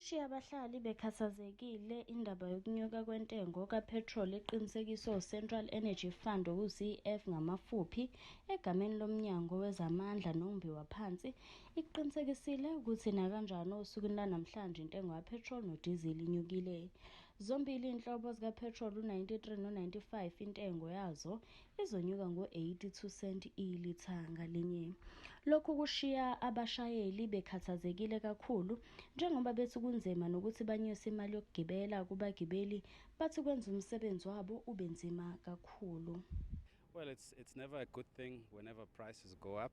Ishiye abahlali bekhathazekile indaba yokunyuka kwentengo kaphethroli eqinisekiswe uCentral Energy Fund okuyi-CEF ngamafuphi, egameni loMnyango wezaMandla noMbiwa Phansi, ikuqinisekisile ukuthi nakanjani osukwini lanamhlanje intengo kaphethroli nodizili inyukile. Zombili izinhlobo zikaphethroli u-93 no-95 intengo yazo izonyuka ngo-82 senti ilitha ngalinye. Lokhu kushiya abashayeli bekhathazekile kakhulu njengoba bethi kunzima nokuthi banyuse imali yokugibela kubagibeli bathi kwenza umsebenzi wabo ube nzima kakhulu. Well, it's, it's never a good thing whenever prices go up.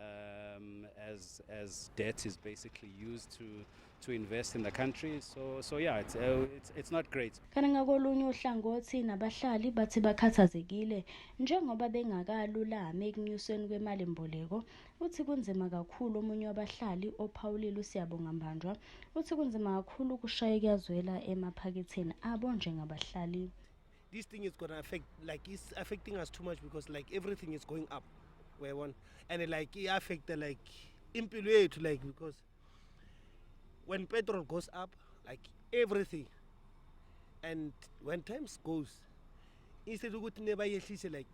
Um, as as debt is basically used to to invest in the country so so yeah it's uh, it's, it's not great kana ngakolunye uhlangothi nabahlali bathi bakhathazekile njengoba bengakalulami ekunyusweni kwemali mboleko uthi kunzima kakhulu omunye wabahlali ophawulile usiyabonga mbanjwa uthi kunzima kakhulu ukushaya kuyazwela emaphaketheni abo njengabahlali this thing is gonna affect like it's affecting us too much because like everything is going up where one and like it affect the like impilo yethu like because when petrol goes up like everything and when times goes instead ukuthi nebayehlise like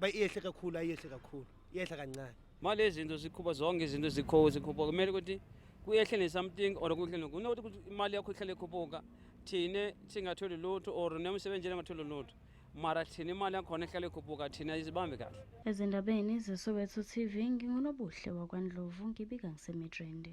bayehle kakhulu ayehle kakhulu iyehla kancane mali izinto zikhupha zonke izinto zikho zikhuphuka kumele ukuthi kuyehle nesomething or kuhle nokunokuthi ukuthi imali yakho ihlale ikhuphuka thine singatholi lutho or nemsebenzi engatholi lutho mara thina imali yakhona ihlale ikhuphuka thina izibambe kahle ezindabeni zesoweto tv ngingunobuhle wakwandlovu ngibika ngisemidrende